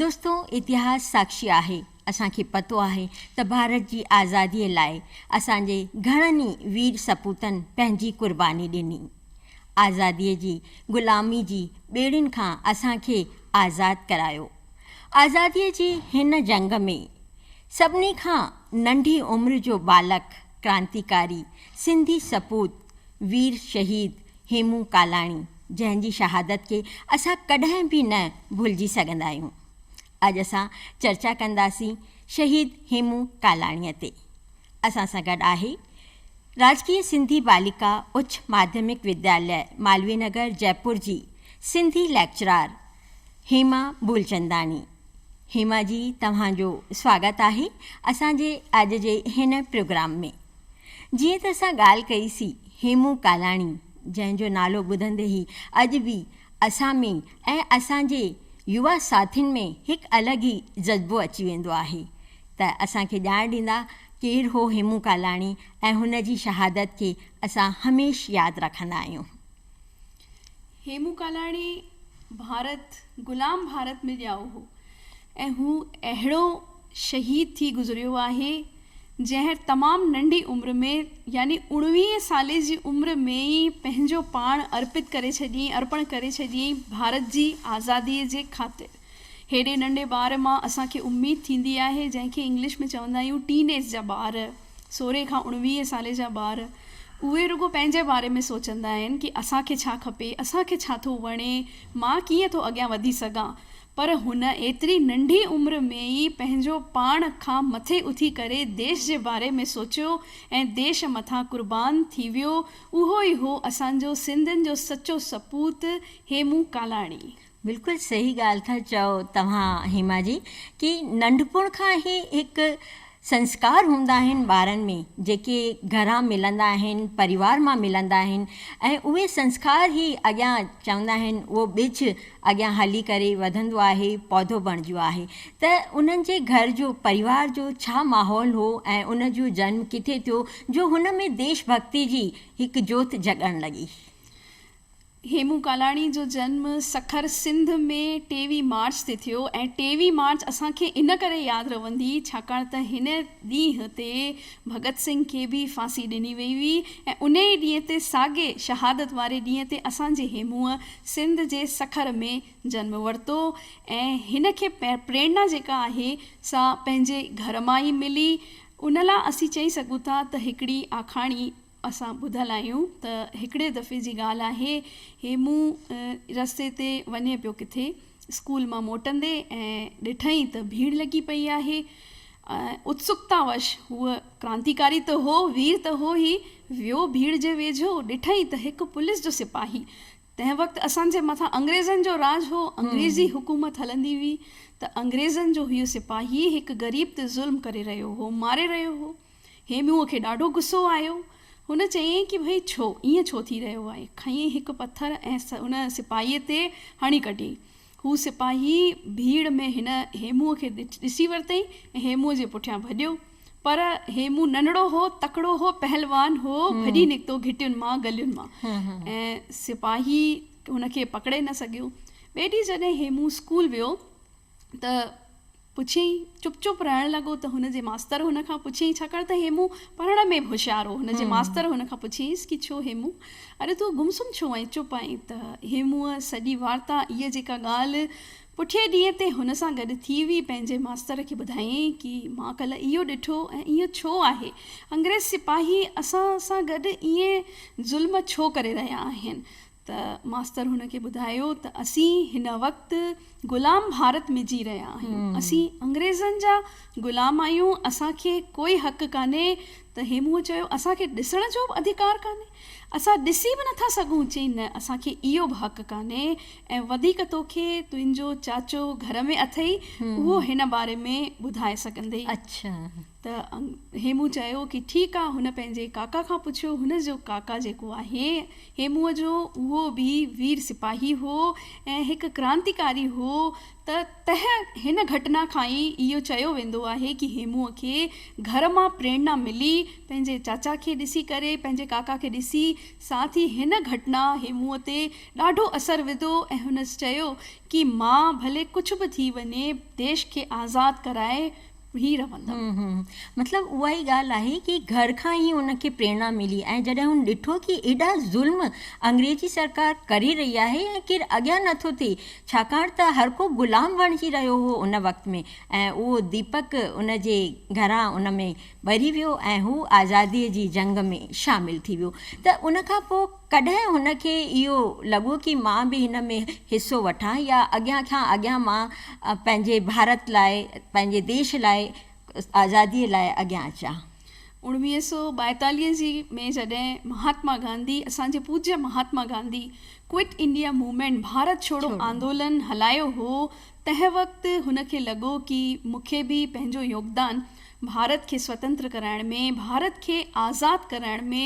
دوستو اتهاس ساکشي آهي اسان کي پتو آهي ته ڀارت جي آزادي لاء اسان جي گهڻن ئي وير سپوتن پنهنجي قرباني ڏني آزادي جي غلامي جي ٻيڙين کان اسان کي آزاد ڪرايو آزادي جي هن جنگ ۾ سڀني کان ننڍي عمر جو ٻالڪ ڪرانتيڪاري سنڌي سپوت وير شهيد هيمون ڪالاڻي جنهن جي شهادت کي اسان ڪڏهن به نه ڀلجي سگهندا آهيون. اڄ اسان چرچا ڪنداسين شهيد هيمون ڪالاڻيء تي. اسان سان گڏ آهي راجڪيه سنڌي باليڪا اچ ماڌيمڪ ودياليه مالوي نگر جئپور جي سنڌي ليڪچرار هيما ڀولچنداڻي. هيما جي توهان جو سواگت آهي اسان جي اڄ جي هن پروگرام ۾. جيئن ته اسان ڳالهه ڪئي سي هيمون ڪالاڻي جنهن جو نالو ٻڌندي ئي اڄ به اسان ۾ ۽ اسان جي يوا ساٿين ۾ هڪ الڳ ئي جذبو اچي ويندو آهي ته اسان کي ڄاڻ ڏيندا ڪير هو هيمون ڪالاڻي ۽ هن جي شهادت کي اسان هميشھ ياد رکندا آهيون. هيمون ڪالاڻي ڀارت غلام ڀارت ۾ ڄائو هو ۽ هو اهڙو شهيد ٿي گذريو آهي جنهن تمام ننڍي عمر ۾ يعني اوڻويهين سالي جي عمر ۾ ئي پنهنجو پاڻ ارپت ڪري ڇڏيائين ارپڻ ڪري ڇڏيائين ڀارت جي آزادي جي خاطر هيڏي ننڍي ٻار مان اسان کي اميد ٿيندي آهي جنهن کي انگلش ۾ چوندا آهيون ٽين ايج جا ٻار سورهين کان اڻويهين سالي جا ٻار اهي رڳو پنهنجي باري ۾ سوچندا آهن ڪي اسان کي ڇا کپي، اسان کي ڇا ٿو وڻي، مان ڪيئن ٿو اڳيان وڌي سگهان. پر هن ايتري ننڍي عمر ۾ ئي پنهنجو پاڻ کان مٿي اٿي ڪري ديش جي باري ۾ سوچيو ۽ ديش مٿان قربان ٿي ويو اهو ئي هو اسان جو سنڌين جو سچو سپوت هيمون ڪالاڻي. بلڪل صحيح ڳالهه ٿا چئو توهان هيما جي ڪي ننڍپڻ کان هي هڪ سنسڪار هوندا آهن ٻارن ۾ جيڪي گهران ملندا آهن پريوار مان ملندا آهن ۽ اهي سنسڪار هي اڳيان چوندا آهن اهو ٻج اڳيان هلي ڪري وڌندو آهي پودو بڻجيو آهي ته انهن جي گهر جو پريوار جو ڇا ماحول هو ۽ ان جو جنم ڪٿي ٿيو جو هن ۾ ديش ڀڳتي جي هڪ جوت جڳڻ لڳي هيمون ڪالاڻي جو جنم سکر سنڌ ۾ ٽيويهين مارچ تي ٿيو ۽ ٽيويهين مارچ اسان کي ان ڪري ياد رهندي ڇاڪاڻ ته هن ڏينهن تي ڀڳت سنگهه کي به ڦاسي ڏني وئي هئي ۽ انهي ڏينهن تي ساڳي شهادت واري ڏينهن تي اسان جي هيمونء سنڌ جي سکر ۾ جنم ورتو ۽ هن کي پريرنا جيڪا آهي سا پنهنجي گهر مان ئي ملي ان لا اسين چئي سگهون ٿا ته هڪڙي آکاڻي اسان ٻڌل آهيون ته هڪڙي دفعي جي ڳالهه آهي هيمو رستي تي وڃي پيو ڪٿي اسڪول مان موٽندي ۽ ڏٺئين ته ڀيڙ لڳي پئي آهي اتسڪتا وش هو ڪرانتيڪاري ته هو وير ته هو ئي ويو ڀيڙ جي ويجهو ڏٺئين ته هڪ پوليس جو سپاهي تنهن وقت اسان جي مٿان انگريزن جو راڄ هو انگريزي حڪومت هلندي هئي ته انگريزن جو هيء سپاهي هڪ غريب تي ظلم ڪري رهيو هو ماري رهيو هو هيموء کي ڏاڍو غصو آيو. هن چيائين ڪي ڀئي ڇو، ائين ڇو ٿي رهيو آهي؟ کنيائين هڪ پٿر ۽ ان سپاهيء تي هڻي ڪڍيائين. هو سپاهي ڀيڙ ۾ هن هيموء کي ڏسي ورتئين ۽ هيموء جي پٺيان ڀڄيو. پر هيمو ننڍڙو هو، تڪڙو هو، پهلوان هو، ڀڄي نڪتو گهٽين مان، گلين مان ۽ سپاهي هن کي پڪڙي نه سگهيو. ٻئي ڏينهن جڏهن هيمو اسڪول ويو ته پڇيائين، چپ چپ رهڻ لڳو ته هن جي ماستر هن کان پڇيائين، ڇاڪاڻ ته هيمون پڙهڻ ۾ به هوشيار هو، هن جي ماستر هن کان پڇيائينس ڪي ڇو هيمون! اڙي تون گم سم ڇو آهين، چپ آهين؟ ته هيمونء سڄي وارتا، اها جيڪا ڳالهه پٺئين ڏينهن تي هن سان گڏ ٿي هئي، پنهنجي ماستر کي ٻڌايائين ڪي مان ڪلهه اهو ڏٺو ۽ ايئن ڇو آهي، انگريز سپاهي اسان سان گڏ ايئن ظلم ڇو ڪري رهيا آهن، ته ماستر هن کي ٻڌايو ته اسين هن وقت غلام ڀارت ۾ جي رهيا آهيون، اسين انگريزن جا غلام آهيون، اسان کي ڪوئي حق ڪانهي ته هيموء چيو اسان کي ڏسڻ جو به اڌڪار ڪانهي، اسان ڏسي به نٿا سگهون، چيائين نه اسان کي اهو به حق ڪانهي ۽ وڌيڪ توکي تنهنجو چاچو گهر ۾ اٿئي اهو هن باري ۾ ٻڌائي سگهندئي. ته هيمون چيو ڪي ٺيڪ آ هن پنهنجي ڪاڪا کان پڇيو هن جو ڪاڪا جيڪو آهي هيمون جو اهو به وير سپاهي هو ۽ هڪ ڪرانتيڪاري هو ته تنهن هن گهٽنا کان ئي اهو چيو ويندو آهي ڪي هيمون کي گهر مان پريڻا ملي پنهنجي چاچا کي ڏسي ڪري پنهنجي ڪاڪا کي ڏسي ساٿ ئي هن گهٽنا هيمون تي ڏاڍو اثر وڌو ۽ هن چيو ڪي مان ڀلي ڪڇ به ٿي وڃي ديش کي آزاد ڪرائي هي رهندم. مطلب اها ئي ڳالهه آهي ڪي گهر کان ئي هن کي پريرنا ملي ۽ جڏهن هن ڏٺو ڪي ايڏا ظلم انگريزي سرڪار ڪري رهي آهي ۽ ڪير اڳيان نه ٿو ٿئي ڇاڪاڻ ته هر ڪو غلام بڻجي رهيو هو ان وقت ۾ ۽ اهو ديپڪ ان جي گهران ان ۾ ٻري ويو ۽ هو آزادي جي جنگ ۾ شامل ٿي ويو ته ان کان پوء ڪڏهن هن کي اهو لڳو ڪي مان به هن ۾ حصو وٺان يا اڳيان کان اڳيان مان پنهنجي ڀارت لاء پنهنجي ديش لاء آزادي لاء اڳيان اچان. اوڻويهه سؤ ٻائيتاليهه جي ۾ جڏهن مهاتما گانڌي اسان جي پوجيه Mahatma Gandhi quit India movement Bharat ڇوڙو آندولن هلايو هو تنهن وقت هن کي لڳو ڪي مون کي به پنهنجو يوگدان ڀارت کي سوتنتر ڪرائڻ ۾، ڀارت کي آزاد ڪرائڻ ۾،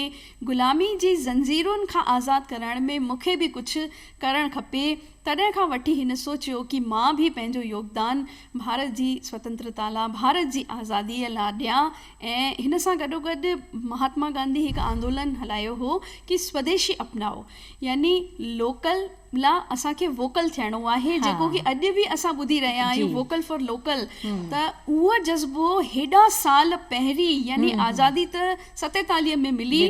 غلامي جي زنجيرن کان آزاد ڪرائڻ ۾ مون کي به ڪجهه ڪرڻ کپي، تڏهن کان وٺي هن سوچيو ڪي مان به پنهنجو يوگدان ڀارت جي سوتنترتا لا، ڀارت جي آزادي لا ڏيان ۽ هن سان گڏوگڏ مهاتما گانڌي هڪ آندولن هلايو هو ڪي سوديشي اپنائو يعني لوڪل، لا اسان کي ووڪل ٿيڻو آهي جيڪو ڪي اڄ به اسان ٻڌي رهيا آهيون ووڪل فار لوڪل ته اهو جذبو هيڏا سال پهرين يعني آزادي ته ستيتاليهه ۾ ملي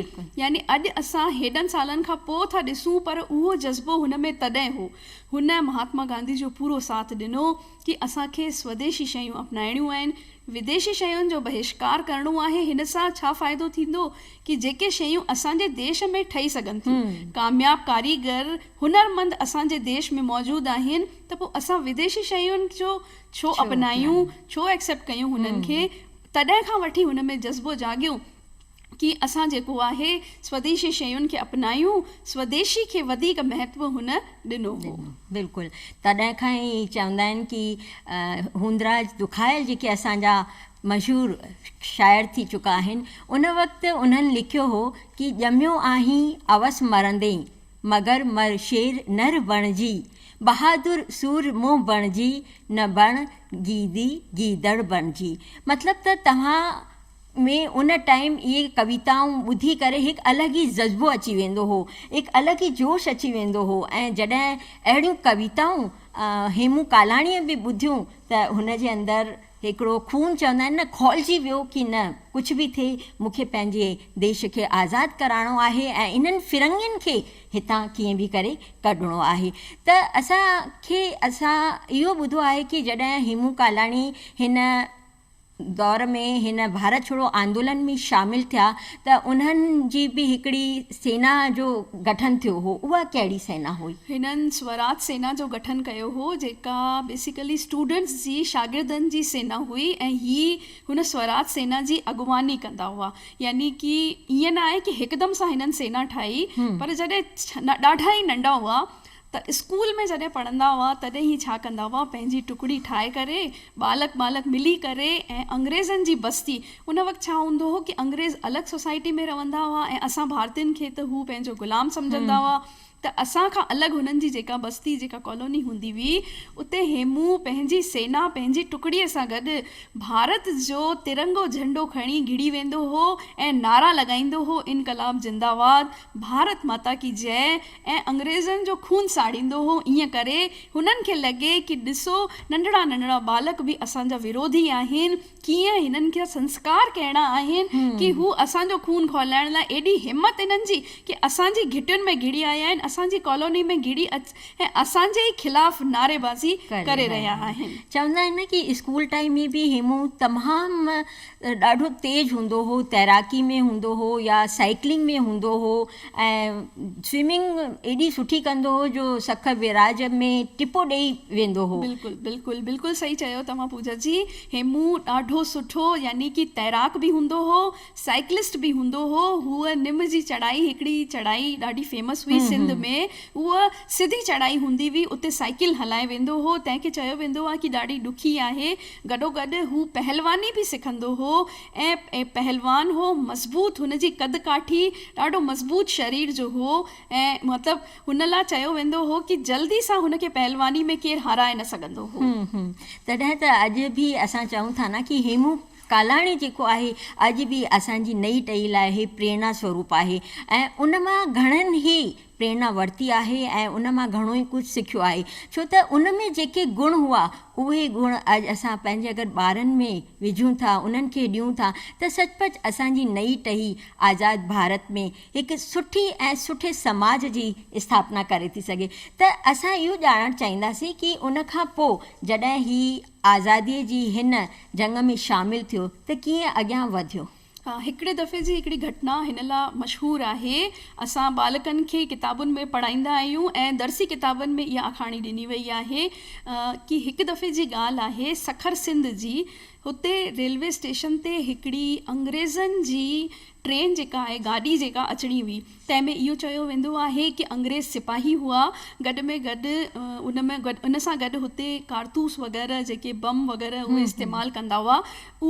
يعني اڄ اسان هيڏن سالن کان پو ٿا ڏسون پر اهو جذبو هن ۾ تڏهن هو هن مهاتما گانڌي جو پورو ساٿ ڏنو ڪي اسان کي سوديشي شيون اپنائڻيون آهن وديشي شين جو بهشڪار ڪرڻو آهي هن سان ڇا فائدو ٿيندو ڪي جيڪي شيون اسان جي ديش ۾ ٺهي سگهن ٿيون ڪامياب ڪاريگر هنر مند اسان جي ديش ۾ موجود آهن ته پو اسان وديشي شين جو ڇو اپنايون ڇو ايڪسيپٽ ڪيون هنن کي تڏهن کان وٺي هن ۾ جذبو جاڳيو ڪي اسان جيڪو آهي سوديشي شين کي اپنايون، سوديشي کي وڌيڪ مهتو هن ڏنو هو. بلڪل تڏهن کان ئي چوندا آهن ڪي هوندراج دکايل جيڪي اسان جا مشهور شاعر ٿي چڪا آهن ان وقت انهن لکيو هو ڪي ڄميو آهين اوس مرندين مگر مر شير نر بڻجي بهادر سور منهن بڻجي نه بڻ گيدي گيدڙ بڻجي مطلب ته توهان ۾ ان ٽائيم اهي ڪويتائون ٻڌي ڪري هڪ الڳ ئي جذبو اچي ويندو هو، هڪ الڳ ئي جوش اچي ويندو هو ۽ جڏهن اهڙيون ڪويتائون هيمون ڪالاڻيء به ٻڌيون ته هن جي اندر هڪڙو خون چوندا آهن نه کولجي ويو ڪي نه ڪجهه به ٿئي مون کي پنهنجي ديش کي آزاد ڪرائڻو آهي ۽ انهن فرنگين کي هتان ڪيئن به ڪري ڪڍڻو آهي ته اسان کي اسان اهو ٻڌو آهي ڪي جڏهن هيمون ڪالاڻي هن دور ۾ هن ڀارت ڇوڙو آندولن ۾ شامل ٿيا ته انهن جي به هڪڙي سينا جو گٺن ٿيو هو، اها ڪهڙي سينا هئي؟ هنن سوراج سينا جو گٺن ڪيو هو، جيڪا بيسيڪلي اسٽوڊنٽس جي شاگردن جي سينا هئي ۽ هي هن سوراج سينا جي اڳواڻي ڪندا هئا، يعني ڪي ائين نه آهي ڪي هڪدم سان هنن سينا ٺاهي، پر جڏهن ڏاڍا ئي ننڍا هئا ته اسڪول ۾ جڏهن پڙهندا هئا تڏهن هي ڇا ڪندا هئا پنهنجي ٽڪڙي ٺاهي ڪري ٻالڪ ٻالڪ ملي ڪري ۽ انگريزن جي بستي ان وقت ڇا هوندو هو ڪي انگريز الڳ سوسائٽي ۾ رهندا هئا ۽ اسان ڀارتين کي ته هو پنهنجو غلام سمجهندا هئا ته اسان کان الڳ هنن جي جيڪا بستي جيڪا ڪالوني هوندي هئي اتي هيمون پنهنجي سينا پنهنجي ٽڪڙي سان گڏ ڀارت جو ترنگو جهنڊو کڻي گهڙي ويندو هو ۽ نعرا لڳائيندو هو انقلاب زنده واد ڀارت ماتا ڪي جئه ۽ انگريزن جو خون ساڙيندو هو ائين ڪري هنن کي لڳي ڪي ڏسو ننڍڙا ننڍڙا ٻالڪ به اسان جا وروڌي آهن ڪيئن هنن کي سنسڪار ڪهڙا آهن ڪي هو اسان جو خون کهلائڻ لاء ايڏي همت هنن جي ڪي اسان جي گهٽين ۾ گهڙي آيا آهن اسان جي ڪالوني ۾ گهڙي اچ ۽ اسان جي ئي خلاف نعري بازي ڪري رهيا آهن. چوندا آهن نه ڪي اسڪول ٽائيم ۾ به هيمون تمام ڏاڍو تيز هوندو هو تيراڪي ۾ هوندو هو يا سائيڪلنگ ۾ هوندو هو ۽ سوئمنگ ايڏي سٺي ڪندو هو جو سکر بئراج ۾ ٽپو ڏئي ويندو هو. بلڪل بلڪل بلڪل صحيح چيو توهان پوجا جي هيمو ڏاڍو سٺو يعني ڪي تيراڪ به هوندو هو سائيڪلسٽ به هوندو هو هو نم جي چڙهائي هڪڙي چڙهائي ڏاڍي فيمس هئي سنڌ ۾ هو سڌي چڙهائي هوندي هئي اتي سائيڪل هلائي ويندو هو تنهن کي چيو ويندو آ ڪي ڏاڍي ڏکي آهي گڏوگڏ هو پهلواني به سکندو هو ۽ ۽ پهلوان هو مضبوط هن جي قد ڪاٺي ڏاڍو مضبوط شرير جو هو ۽ مطلب هن لا چيو ويندو هو ڪي جلدي سان هن کي پهلواني ۾ ڪير هارائي نه سگهندو هو. هون هون تڏهن ته اڄ به اسان چئون ٿا نه ڪي هيمون ڪالاڻي جيڪو آهي اڄ به اسان جي نئي ٽهي لاء هي پريڻا سوروپ آهي ۽ ان مان گهڻن هي پريرنا ورتي آهي ۽ ان مان گهڻو ئي ڪجهه سکيو آهي ڇو ته ان ۾ جيڪي گڻ هئا اهي گڻ اڄ اسان پنهنجي اگر ٻارن ۾ وجهون ٿا انهن کي ڏيون ٿا ته سچ پچ اسان جي نئي ٽهي آزاد ڀارت ۾ هڪ سٺي ۽ سٺي سماج جي اسٿاپنا ڪري ٿي سگهي ته اسان اهو ڄاڻڻ چاهينداسين ڪي ان کان پو جڏهن هي آزادي جي هن جنگ ۾ شامل ٿيو ته ڪيئن اڳيان وڌيو. هڪڙي دفعي جي هڪڙي گهٽنا هن لا مشهور آهي. اسان ٻالڪن کي ڪتابن ۾ پڙهائيندا آهيون ۽ درسي ڪتابن ۾ اها آکاڻي ڏني وئي آهي ڪي هڪ دفعي جي ڳالهه آهي سکر سنڌ جي هتي ريلوي اسٽيشن تي هڪڙي انگريزن جي ٽرين جيڪا آهي گاڏي جيڪا اچڻي هئي تنهن ۾ اهو چيو ويندو آهي ڪي انگريز سپاهي هئا گڏ ۾ گڏ ان ۾ گڏ ان سان گڏ هتي ڪارتوس وغيره جيڪي بم وغيره اهي استعمال ڪندا هئا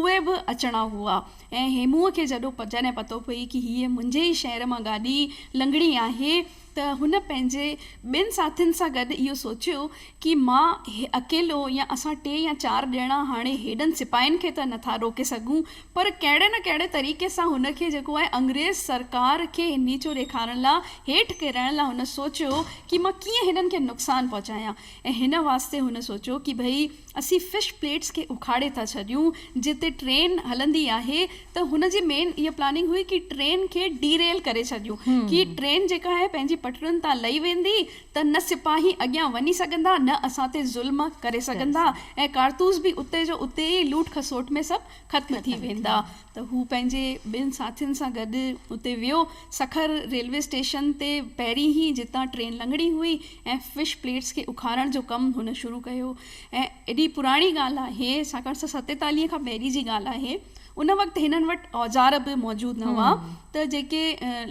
اهي به اچڻا هئا ۽ هيموء کي جڏو جڏهن پتو پئي ڪي هيء منهنجي ئي شهر مان گاڏي لنگهڻي آهي ته هن پنهنجي ٻين ساٿين سان گڏ اهو سوچيو ڪي مان هي اڪيلو يا اسان ٽي يا چار ڄڻا هاڻي هيڏن سپاهين کي ته نٿا روڪي سگهون پر ڪهڙي نه ڪهڙي طريقي سان هن کي جيڪو آهي انگريز سرڪار کي هنيچو ڏيکارڻ لا هيٺ ڪرڻ لا هن سوچيو ڪي مان ڪيئن هنن کي نقصان پهچايان ۽ هن واسطي هن سوچيو ڪي ڀئي اسين فش پليٽس کي اکاڙي ٿا ڇڏيون جتي ٽرين هلندي آهي ته هن جي مين اها پلاننگ هئي ڪي ٽرين کي ڊي ريل ڪري ڇڏيون ڪي ٽرين جيڪا آهي پنهنجي پٽرين تان لهي ويندي ته نه سپاهي اڳيان وڃي سگهندا نه اسان تي ظلم ڪري سگهندا ۽ ڪارتوس به اتي جو اتي ئي لوٽ کسوٽ ۾ سڀ ختم ٿي ويندا ته هو پنهنجي ٻن ساٿين سان گڏ اتي ويو سکر ريلوي اسٽيشن تي پهرين ئي جتان ٽرين لنگهڻي هئي ۽ فش پليٽس کي اکارڻ جو ڪم هن شروع ڪيو ۽ ايڏي پراڻي ڳالهه آهي، ڇاڪاڻ ته ستيتاليهه کان پهرين جي ڳالهه آهي. ان وقت هنن وٽ اوزار به موجود نه هئا ته جيڪي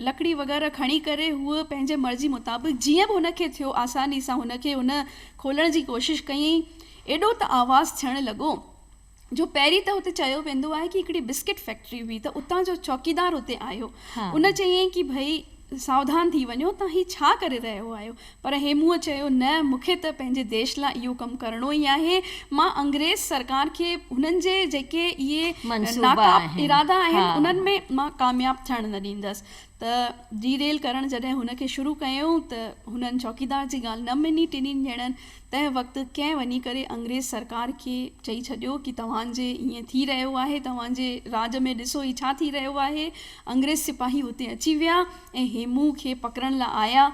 لڪڙي وغيره کڻي ڪري هوء پنهنجي مرضي مطابق جيئن به هن کي ٿيو آساني سان هن کي ان کولڻ جي ڪوشش ڪيئين. ايڏو ته آواز ٿيڻ لڳو جو پهرين ته هتي چيو ويندو آهي ڪي هڪڙي بسڪٽ فيڪٽري هئي ته اتان جو چوڪيدار هتي آيو. ان چيئين ڪي ڀئي ساوڌان ٿي وڃو تان هي ڇا ڪري رهيو آهيو. پر هيموء چيو، نه، مون کي ته پنهنجي ديش لا اهو ڪم ڪرڻو ئي آهي. مان انگريز سرڪار کي هنن جي جيڪي اهي ناڪاب ارادا آهن، انهن ۾ مان ڪامياب ٿيڻ نه ڏيندس. ته ڊي ريل ڪرڻ جڏهن هن کي شروع ڪيائون ته هنن چوڪيدار جي ڳالهه نه مڃي ٽنهي ڄڻن تنهن وقت ڪنهن وڃي ڪري انگريز سرڪار کي چئي ڇڏيو ڪي توهان جي ائين ٿي رهيو آهي توهان جي راڄ ۾ ڏسو هي ڇا ٿي رهيو آهي انگريز سپاهي هتي اچي ويا ۽ هيموء کي پڪڙڻ لا آيا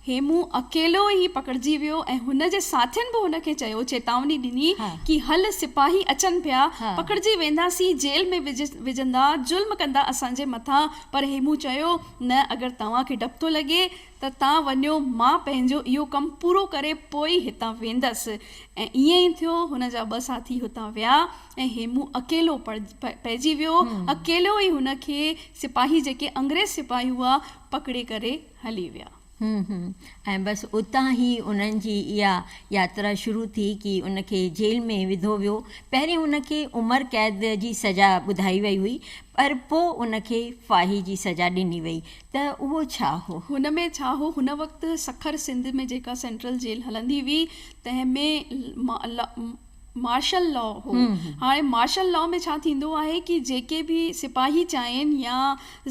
هيمو اڪيلو ئي پڪڙجي ويو ۽ هن جي ساٿين به هن کي چيو، چيتاوني ڏني ڪي هل سپاهي اچن پيا، پڪڙجي وينداسين، جيل ۾ وجهندا، ظلم ڪندا اسان جي مٿان، پر هيمو چيو، نه اگر توهان کي ڊپ ٿو لڳي ته تان وڃو، مان پنهنجو اهو ڪم پورو ڪري پوء ئي هتان ويندس ۽ ائين ئي ٿيو، هن جا ٻه ساٿي هتان ويا ۽ هيمو اڪيلو پئجي ويو، اڪيلو ئي هن کي سپاهي جيڪي انگريز سپاهي هئا پڪڙي ڪري هلي ويا. هون هون ۽ بس اتان هي انهن جي اها ياترا شروع ٿي ڪي ان کي جيل ۾ وڌو ويو پهرين هن کي عمر قيد جي سزا ٻڌائي وئي هئي پر پو ان کي ڦاهي جي سزا ڏني وئي ته اهو ڇا هو. هن ۾ ڇا هو هن وقت سکر سنڌ ۾ جيڪا سينٽرل جيل هلندي هئي تنهن ۾ مارشل لا هو هاڻي مارشل لا ۾ ڇا ٿيندو آهي ڪي جيڪي به سپاهي چاهين يا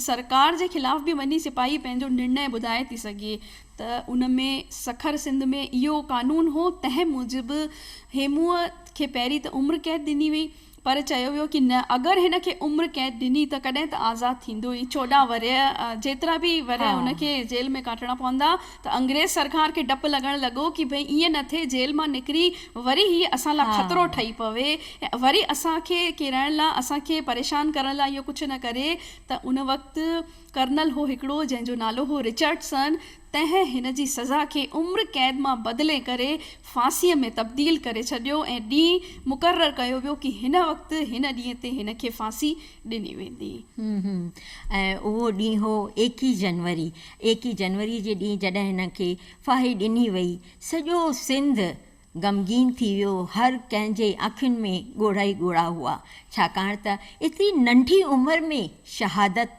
سرڪار جي خلاف به وڃي سپاهي پنهنجو نرڻي ٻڌائي ٿي سگهي ته ان ۾ سکر سنڌ ۾ اهو قانون هو تنهن موجب هيموء کي پهرين ته عمر قيد ڏني وئي پر چيو ويو ڪي نه اگر هن کي عمر قيد ڏني ته ڪڏهن ته آزاد ٿيندو ئي چوڏهن ورهيه جيترا به ورهيه هن کي جيل ۾ ڪاٽڻا پوندا ته انگريز سرڪار کي ڊپ لڳڻ لڳو ڪي ڀئي ائين نه ٿئي جيل مان نڪري وري هي اسان لا خطرو ٺهي پوي ۽ وري اسان کي ڪيرائڻ لا اسان کي پريشان ڪرڻ لا اهو ڪجهه نه ڪري ته ان وقت ڪرنل هو هڪڙو جنهن جو نالو هو رچرڊسن تنهن هن جي سزا کي عمر قيد مان بدلي ڪري ڦاسي ۾ تبديل ڪري ڇڏيو ۽ ڏينهن مقرر ڪيو ويو ڪي هن وقت هن ڏينهن تي هن کي ڦاسي ڏني ويندي. ۽ اهو ڏينهن هو ايڪيهه جنوري ايڪيهه جنوري جي ڏينهن جڏهن هنن کي ڦاهي ڏني وئي، سڄو سنڌ غمگين ٿي ويو، هر ڪنهن جي اکين ۾ ڳوڙها ئي ڳوڙها هئا، ڇاڪاڻ ته ايتري ننڍي عمر ۾ شهادت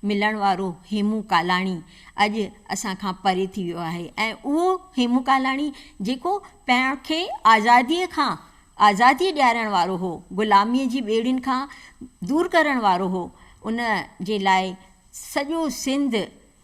ملڻ وارو هيمون ڪالاڻي اڄ اسان کان پري ٿي ويو آهي ۽ اهو هيمون ڪالاڻي جيڪو پاڻ کي آزاديء کان آزادي ڏيارڻ وارو هو، غلاميء جي ٻيڙين کان دور ڪرڻ وارو هو، ان جي لاء. سڄو سنڌ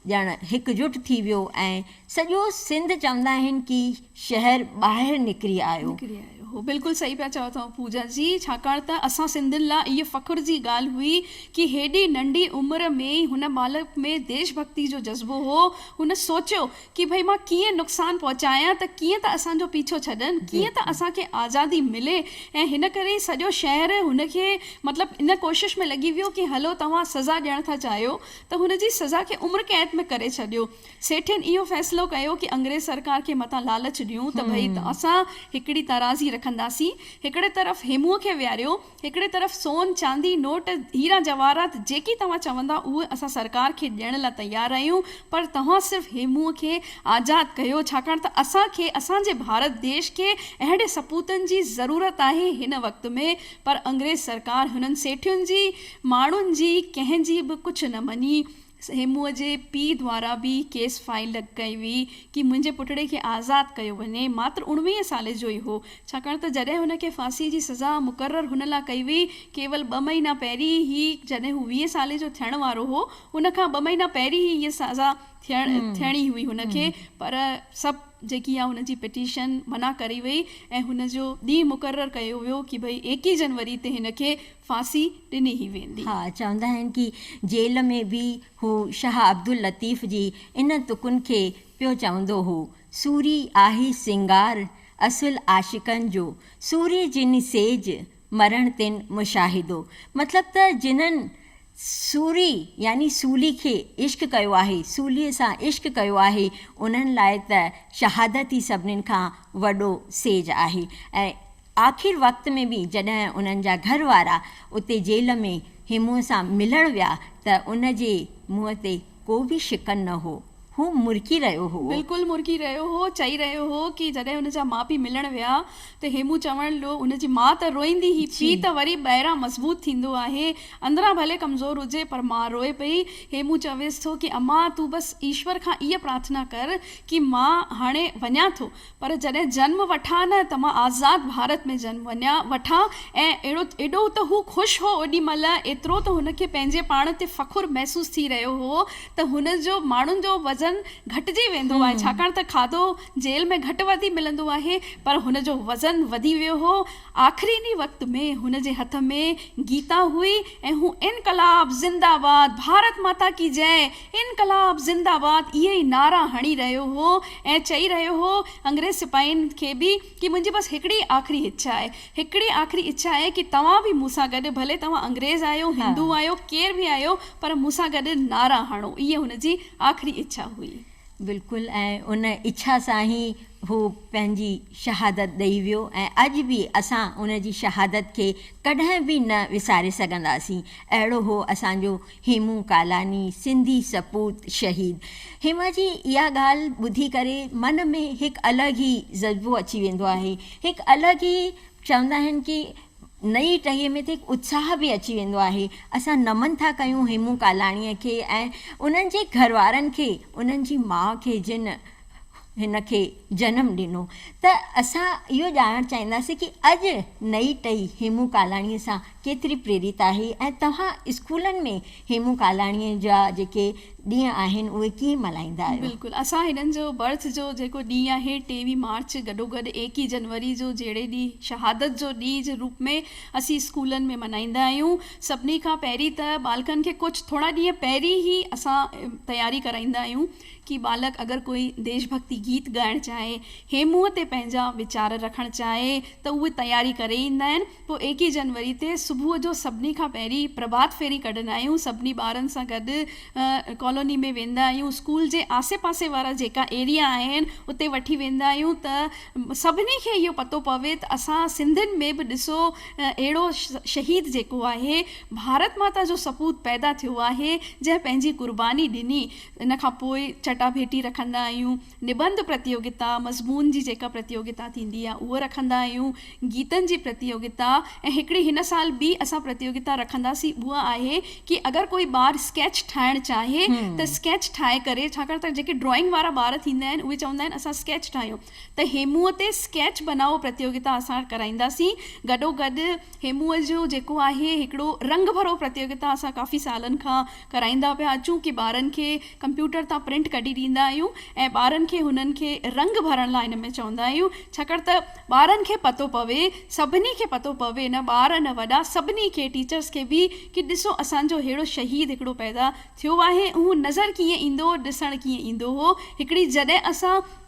ڄڻ هڪجٽ ٿي ويو ۽ سڄو سنڌ چوندا آهن ڪي شهر ٻاهر نڪري آيو. نڪري آيو هو بلڪل صحيح پيا چئو ٿا پوجا جي ڇاڪاڻ ته اسان سنڌين لا اهي فخر جي ڳالهه هئي ڪي هيڏي ننڍي عمر ۾ ئي هن ٻالڪ ۾ ديش ڀڪتي جو جذبو هو هن سوچيو ڪي ڀئي مان ڪيئن نقصان پهچايان ته ڪيئن ته اسان جو پيڇو ڇڏن، ڪيئن ته اسان کي آزادي ملي ۽ هن ڪري ئي سڄو شهر هن کي مطلب ان ڪوشش ۾ لڳي ويو ڪي هلو توهان سزا ڏيڻ ٿا چاهيو ته هن جي سزا کي عمر قيد ۾ ڪري ڇڏيو. سيٺين اهو فيصلو ڪيو ڪي انگريز سرڪار کي متان لالچ ڏيون ته ڀئي اسان هڪڙي ترازي رکنداسين، هڪڙي طرف هيموء کي ويهاريو، هڪڙي طرف سون، چاندي، نوٽ، هيرا جواهرات جيڪي توهان چوندا اهي اسان سرڪار کي ڏيڻ لا تيار آهيون پر توهان صرف هي منهن کي آزاد ڪيو ڇاڪاڻ ته اسان کي اسان جي ڀارت ديش کي اهڙي سپوتن جي ضرورت آهي هن وقت ۾ پر انگريز سرڪار هنن سيٺين جي ماڻهن جي ڪنهن جي به ڪجهه نه مڃي هيموء جي پيء دوارا به ڪيس فائيل ڪئي وئي ڪي منهنجي پٽڙي کي آزاد ڪيو وڃي. ماتر اڻويهين سالي جو ئي هو، ڇاڪاڻ ته جڏهن هن کي ڦاسيء جي سزا مقرر هن لا ڪئي وئي، ڪيول ٻه مهينا پهرين ئي جڏهن هو ويهه سالي جو ٿيڻ وارو هو، ان کان ٻه مهينا پهرين ئي هيء سزا ٿيڻي هئي هن کي، پر سڀ جيڪي آهي هن جي پٽيشن منع ڪري وئي ۽ هن جو ڏينهن مقرر ڪيو ويو ڪي ڀئي ايڪيهه جنوري تي هن کي ڦاسي ڏني هي ويندي. ها چوندا آهن ڪي جيل ۾ به هو شاهه عبداللطيف جي ان تڪن کي پيو چوندو هو، سوري آهي سينگار اصل عاشقن جو، سوري جن سيج مرڻ تن مشاهدو. مطلب ته جنھن سوري يعني سولي کي عشق ڪيو آهي، سولي سان عشق ڪيو آهي، انھن لاء ته شهادت ئي سڀني کان وڏو سيج آهي ۽ آخر وقت ۾ به جڏهن انهن جا گهر وارا اتي جيل ۾ هيمون سان ملڻ ويا ته ان جي منهن تي ڪو به شڪن نه هو. هو مرڪي رهيو هئو. بلڪل مرڪي رهيو هو. چئي رهيو هو ڪي جڏهن ان جا ماء پي ملڻ ويا ته هيمون چوڻ لو ان جي ماء ته روئيندي هي پي ته وري ٻاهران مضبوط ٿيندو آهي اندران ڀلي ڪمزور هجي پر ماء روئي پئي. هيمون چويس ٿو ڪي امان تون بس ايشور کان اهي پرارٿنا ڪر ڪي مان هاڻي وڃان ٿو پر جڏهن جنم وٺان نه ته مان آزاد ڀارت ۾ جنم وڃان وٺان ۽ اهڙو ايڏو ته هو خوش هو اوڏي مهل ايترو ته هن کي پنهنجي پاڻ تي فخر محسوس ٿي رهيو هو ته هن جو ماڻهن جو وزن گهٽجي ويندو آهي ڇاڪاڻ ته کاڌو جيل ۾ گهٽ وڌي ملندو آهي پر هن جو وزن وڌي ويو هو آخري ڏينهن وقت ۾ هن جي هٿ ۾ گيتا هئي ۽ هو انقلاب زنده باد ڀارت ماتا ڪي جئه انقلاب زنده باد اهي ئي نعرا هڻي رهيو هو ۽ چئي رهيو هو انگريز سپاهين کي به ڪي منهنجي بس هڪڙي آخري اڇا آهي هڪڙي آخري اڇا آهي ڪي توهان به مون سان گڏ ڀلي توهان انگريز آهيو هندو آهيو ڪير به آهيو پر مون سان گڏ نعرا هڻو اهي هن جي آخري اڇا هئي. بلڪل ۽ ان اڇا سان ئي هو پنهنجي شهادت ڏئي ويو ۽ اڄ به اسان ان جي شهادت کي ڪڏهن به نه وساري سگهنداسين اهڙو هو اسان جو هيمون ڪالاني، سنڌي سپوت شهيد هيما جي اها ڳالهه ٻڌي ڪري من ۾ هڪ الڳ ئي جذبو اچي ويندو آهي، هڪ الڳ ئي چوندا آهن ڪي نئي ٽهيء ۾ ته هڪ اتساهه به اچي ويندو آهي، اسان نمن ٿا ڪيون هيمون ڪالاڻيء کي ۽ انهن جي گهروارن کي، انهن جي ماء کي جن هن کي جنم ڏنو ته اسان اهو ڄاڻڻ چاهينداسين ڪي اڄ نئي ٽهي هيمون ڪالاڻي سان ڪيتري پريريت آهي ۽ توهان اسڪولن ۾ هيمون ڪالاڻي جا جيڪي ڏينهن آهن اهي ڪيئن ملهائيندا آهيو. بلڪل اسان هنن جو برٿ جو جيڪو ڏينهن آهي ٽيويهه مارچ گڏوگڏ ايڪيهه جنوري جو جهڙي ڏينهن شهادت جو ڏينهن جي روپ ۾ اسين اسڪولن ۾ ملهائيندا آهيون سڀني کان پهرين ته ٻالڪن کي ڪجهه ٿورا ڏينهن پهرين هي اسان تياري ڪرائيندا آهيون ڪي ٻالڪ اگر ڪوئي ديش ڀڳتي گيت ڳائڻ چاهي، هي منهن تي پنهنجا ويچار رکڻ چاهي ته اهي تياري ڪري ايندا آهن. پوء ايڪيهه جنوري تي صبح جو سڀني کان پهرين پرڀات ڦيري ڪڍندا آهيون. سڀني ٻارن سان گڏ ڪالوني ۾ ويندا آهيون. اسڪول جي آسي پاسي وارا جيڪا ايريا آهن اتي وٺي ويندا آهيون ته سڀني کي اهو پتو پوي ته اسان سنڌين ۾ به ڏسو اهڙو شهيد جيڪو آهي ڀارت ماتا جو سپوت پيدا ٿيو آهي جنهن پنهنجي قرباني ڏني ان کان پوء چٽاڀيٽي رکندا آهيون، نبنڌ پرتيوگتا، مضمون جي جيڪا پرتيوگتا ٿيندي آهي اهو رکندا آهيون، گيتن جي پرتيوگتا ۽ هڪڙي هن سال ٻي اسان پرتيوگتا رکنداسين اها آهي ڪي اگر ڪوئي ٻار اسڪيچ ٺاهڻ چاهي ته اسڪيچ ٺاهي ڪري ڇاڪاڻ ته جيڪي ڊرائنگ وارا ٻار ٿيندا آهن اهي چوندا آهن اسان اسڪيچ ٺاهيون ته هيموء تي اسڪيچ بنائو پرتيوگتا اسان ڪرائينداسين. گڏوگڏ هيموء جو جيڪو آهي هڪڙو رنگ ڀرو پرتيوگتا اسان ڪافي سالن کان ڪرائيندا پيا اچون ڪي ٻارن کي ڪمپيوٽر تان پرنٽ ڪڍي ڏيندا آهيون ۽ ٻارن کي هنن کي رنگ ڀرڻ لاء ان ۾ چوندا آهيون ڇاڪاڻ ته ٻارن کي پتو پوي سڀني کي پتو پوي نه ٻار نه وڏا سڀني کي ٽيچرس کي به ڪي ڏسو اسان جو ههڙو شهيد هڪڙو پيدا ٿيو آهي اهو نظر ڪيئن ايندو هو ڏسڻ ڪيئن ايندو هو هڪڙي جڏهن اسان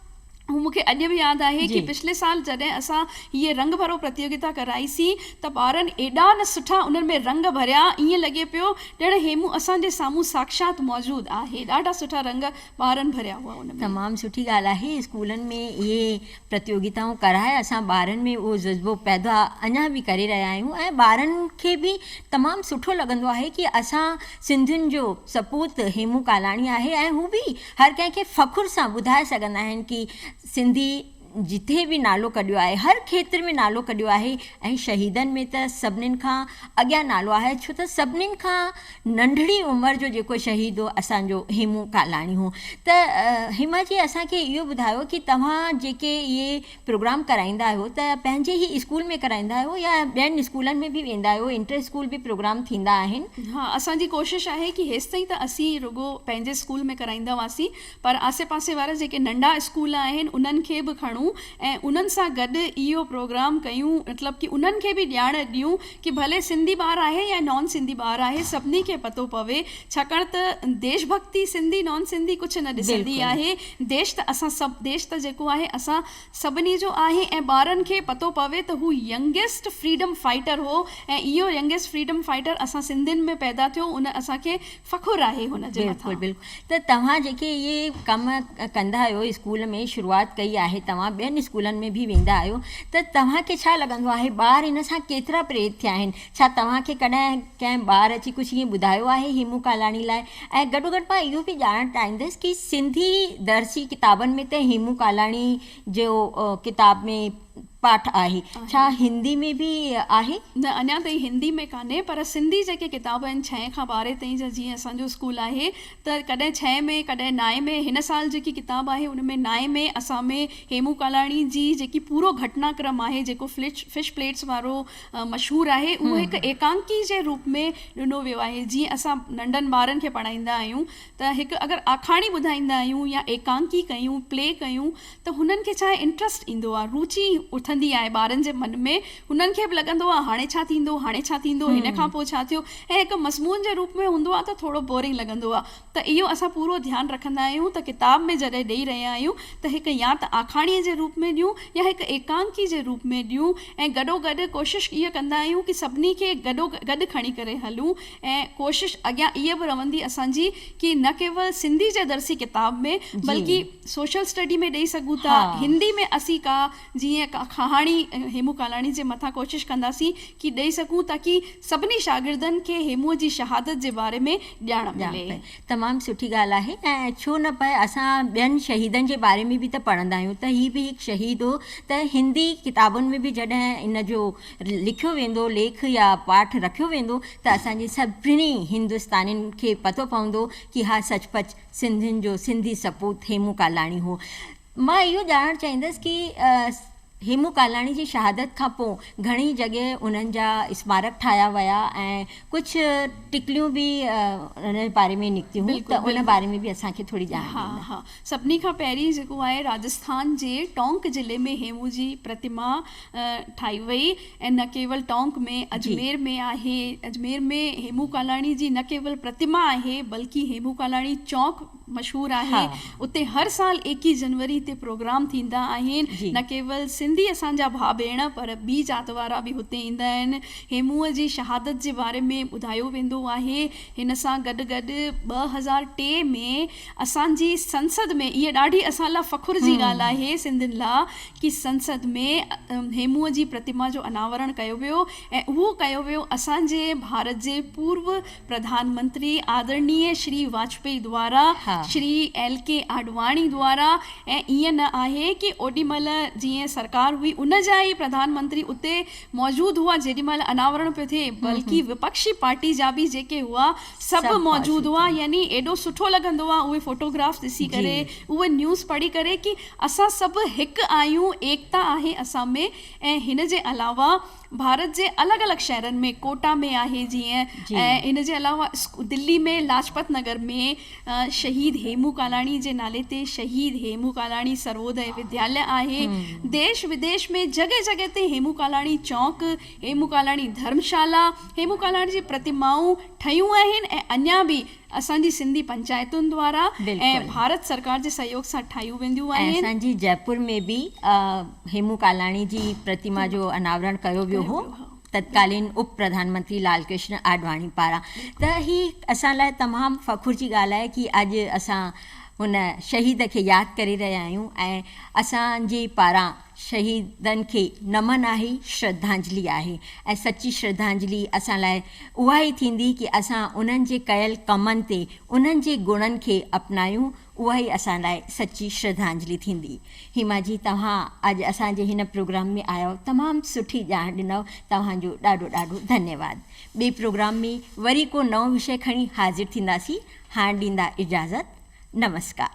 هو مون کي اڄ به ياد آهي ڪي پڇلي سال جڏهن اسان هيء رنگ ڀرو پرتيوگتا ڪرائي سين ته ٻارن ايڏا نه سٺا انهن ۾ رنگ ڀريا ائين لڳي پيو ڄڻ هيمون اسان جي سامهون ساکشات موجود آهي ڏاڍا سٺا رنگ ٻارن ڀريا هئا ان ۾. تمام سٺي ڳالهه آهي اسڪولن ۾ اهي پرتيوگتائون ڪرائي اسان ٻارن ۾ اهو جذبو پيدا اڃا به ڪري رهيا آهيون ۽ ٻارن کي به تمام سٺو لڳندو آهي ڪي اسان سنڌين جو سپوت هيمون ڪالاڻي آهي ۽ هو به هر ڪنهن کي فخر سان ٻڌائي سگهندا آهن ڪي سنڌي جتي به نالو ڪڍيو آهي هر کيتر ۾ نالو ڪڍيو آهي ۽ شهيدن ۾ ته سڀنين کان اڳيان نالو آهي ڇو ته سڀنين کان ننڍڙي عمر جو جيڪو شهيد هو اسانجو هيمون ڪالاڻي هو ته هيما جي اسانکي اهو ٻڌايو ڪي توهان جيڪي اهي پروگرام ڪرائيندا آهيو ته پنهنجي ئي اسڪول ۾ ڪرائيندا آهيو يا ٻين اسڪولن ۾ به ويندا آهيو انٽر اسڪول به پروگرام ٿيندا آهن. ها اسان جي ڪوشش آهي ڪي هيستائين ته اسين رڳو پنهنجي اسڪول ۾ ڪرائيندا هئاسين پر آسي پاسي وارا جيڪي ننڍا اسڪول آهن انهن کي به کڻون ۽ انهن سان گڏ اهو پروگرام ڪيون مطلب ڪي انهن کي به ڄاڻ ڏيون ڪي ڀلي سنڌي ٻار آهي يا نان سنڌي ٻار آهي سڀني کي پتو پوي ڇاڪاڻ ته ديش ڀڳتي سنڌي نان سنڌي ڪجهه نه ڏسندي بلڪل. آهي ديش ته اسان سڀ ديش ته جيڪو آهي اسان سڀني جو آهي ۽ ٻارن کي پتو پوي ته هو ينگيسٽ فريڊم فائيٽر هو ۽ اهو ينگيسٽ فريڊم فائيٽر اسان سنڌين ۾ پيدا ٿيو ان اسان کي فخر آهي هن جي مٿان. بلڪل بلڪل ته توهان جيڪي اهي ڪم ڪندا آهيو اسڪول ۾ شروعات ڪئي آهي توهان ٻين اسڪولن ۾ به ويندا آهيو ته توهان کي ڇا لڳندو آهي ٻار ان سان ڪيترا پريت ٿيا آهن ڇا توهان کي ڪڏهن ڪنهن ٻار اچي ڪجهه ائين ٻڌايو آهي هيمون ڪالاڻي لاء ۽ گڏو گڏ مان اهو به ڄاڻڻ چاهيندس ڪي سنڌي درسي ڪتابن ۾ ته هيمون ڪالاڻي جو ڪتاب ۾ پاٺ آهي. ڇا هندي ۾ به آهي؟ نه اڃا تائين هندي ۾ ڪانهي پر سنڌي جيڪي ڪتاب آهن ڇهين کان ٻارهين تائين جا جيئن اسان جو اسڪول آهي ته ڪڏهن ڇهين ۾ ڪڏهن نائين ۾ هن سال جيڪي ڪتاب آهي ان ۾ نائين ۾ اسان ۾ هيمون ڪالاڻي جي جيڪي پورو گهٽنا ڪرم آهي جيڪو فلچ فش پليٽس وارو مشهور آهي اهو هڪ ايڪانڪي جي روپ ۾ ڏنو ويو آهي جيئن اسان ننڍن ٻارن کي پڙهائيندا آهيون ته هڪ اگر آکاڻي ٻڌائيندا آهيون يا ايڪانڪي ڪيون پلي ڪيون ته هنن کي ڇا انٽرسٽ ايندو آ، روچي اٿندي آهي ٻارن جي من ۾، هنن کي به لڳندو آ هاڻي ڇا ٿيندو، هاڻي ڇا ٿيندو، هن کان پوء ڇا ٿيو ۽ هڪ مضمون جي روپ ۾ هوندو آ ته ٿورو بورنگ لڳندو آ ته اهو اسان پورو ڌيان رکندا آهيون ته ڪتاب ۾ جڏهن ڏئي رهيا آهيون ته هڪ يا ته آکاڻيء جي روپ ۾ ڏيون يا هڪ ايڪانڪي جي روپ ۾ ڏيون ۽ گڏو گڏ ڪوشش اها ڪندا آهيون ڪي سڀني کي گڏو گڏ کڻي ڪري هلون ۽ ڪوشش اڳيان اها به رهندي اسان جي ڪي نه ڪيول سنڌي جي درسي ڪتاب ۾ بلڪه سوشل اسٽڊي ۾ ڏئي سگهون ٿا. هندي ۾ اسين ڪا جيئن ڪا ڪهاڻي هيمون ڪالاڻي جي مٿان ڪوشش ڪنداسين ڪي ڏئي سگهون تاڪي سڀني شاگردن کي هيمون جي شهادت جي باري ۾ ڄاڻ ملي. تمام سٺي ڳالهه آهي ۽ ڇو نه پر اسان ٻين شهيدن جي باري ۾ به ته پڙهندا آهيون ته هي به هڪ شهيد هو ته هندي ڪتابن ۾ به جڏهن ان جو لکيو ويندو ليک يا پاٺ رکيو ويندو ته اسان جي سڀني هندستانين کي پتو پوندو ڪي ها سچ پچ سنڌين جو سنڌي سپوت هيمون ڪالاڻي هو. مان اهو ڄاڻڻ چاهيندس ڪي هيمون ڪالاڻي جي شهادت کان پو گهڻي جڳهه انهن جا اسمارڪ ٺاهيا ويا ۽ ڪجهه ٽڪليون به ان جي باري ۾ نڪتيون ته ان باري ۾ به اسان کي ٿوري ڄاڻ ڏيندا. ها ها سڀني کان پهرين جيڪو آهي راجسٿان جي ٽونڪ ضلعي ۾ هيمون جي پرتما ٺاهي وئي. ۽ نه ڪيول ٽانڪ ۾ اجمير ۾ آهي. اجمير ۾ هيمون ڪالاڻي جي نه ڪيول پرتما آهي بلڪه هيمون ڪالاڻي چونڪ مشهور آهي اتي هر سال ايڪيهه جنوري تي پروگرام ٿيندا آهن نه ڪيول سنڌي اسان جا ڀاء ڀيڻ پر ٻي ذات وارا به هتي ايندا آهن هيمون جي شهادت جي باري ۾ ٻڌايو ويندو آهي هن سان گڏ گڏ ٻه هزار ٽي ۾ اسان جي سنسد ۾ اهي ڏاڍي اسان لا فخر جي ڳالهه آهي سنڌين لا ڪي سنسد ۾ هيمون جي پرتما جو اناورڻ ڪيو ويو ۽ اهو ڪيو ويو اسان جي ڀارت جي پورو پرڌان منتري آدرڻيه شري واجپئي دوارا شري ايل ڪي آڏواڻي دوارا ۽ ائين نه آهي ڪي اوڏي مهل جئين سرڪار هئي ان جا ئي پرڌان منتري اتي موجود هئا جيڏي مهل اناورڻ پيو ٿئي بلڪه وپڪشي پارٽي جا به جيڪي هئا سڀ موجود هئا يعني ايڏو سٺو لڳندو آهي اهي فوٽوگرافس ڏسي ڪري اهي نيوز پڙهي ڪري ڪي اسان سڀ هڪ آهيون، ايڪتا آهي اسان ۾، ۽ هن جي علاوه ڀارت جي الڳ الڳ شهرن ۾ ڪوٽا ۾ آهي جيئن جي. ۽ هن جي علاوه دلي ۾ لاجپت نگر ۾ شهيد هيمون ڪالاڻي جي نالي تي شهيد هيمون ڪالاڻي سرووديه ودياله آهي. ديش وديش ۾ جڳهه جڳهه تي هيمون ڪالاڻي چونڪ، هيمون ڪالاڻي ڌرم شالا، هيمون ڪالاڻي جي پرتمائون ٺهيون آهن ۽ اڃا به اسان جي سنڌي پنچائتن دوارا ۽ ڀارت سرڪار جي سهيوگ سان ٺاهيون وينديون آهن. ۽ اسان جي جئپور ۾ به هيمون ڪالاڻي جي پرتما جو اناورڻ ڪيو ويو هو تتڪالين اپ پرڌان منتري لال ڪرشن آڏواڻي پاران ته هي اسان لاء تمام فخر جي ڳالهه آهي ڪي اڄ اسان هن شهيد کي ياد ڪري رهيا آهيون ۽ اسان جي پاران شهيدن کي نمن آهي، شرڌانجلي آهي ۽ سچي شرڌانجلي اسان لاء اها ئي ٿيندي ڪي اسان انهن جي ڪيل ڪمن تي انهن جي گڻن کي اپنايون اها ئي اسان لاء سچي شرڌانجلي ٿيندي. هيما جي توهان اڄ اسان جي هن پروگرام ۾ آيو تمام سٺي ڄاڻ ڏنئو توهان جو ڏاڍو ڏاڍو ڌنيواد. ٻي پروگرام ۾ وري ڪو نئون وشي کڻي حاضر ٿينداسين هاڻ ڏيندا اجازت نمسڪار.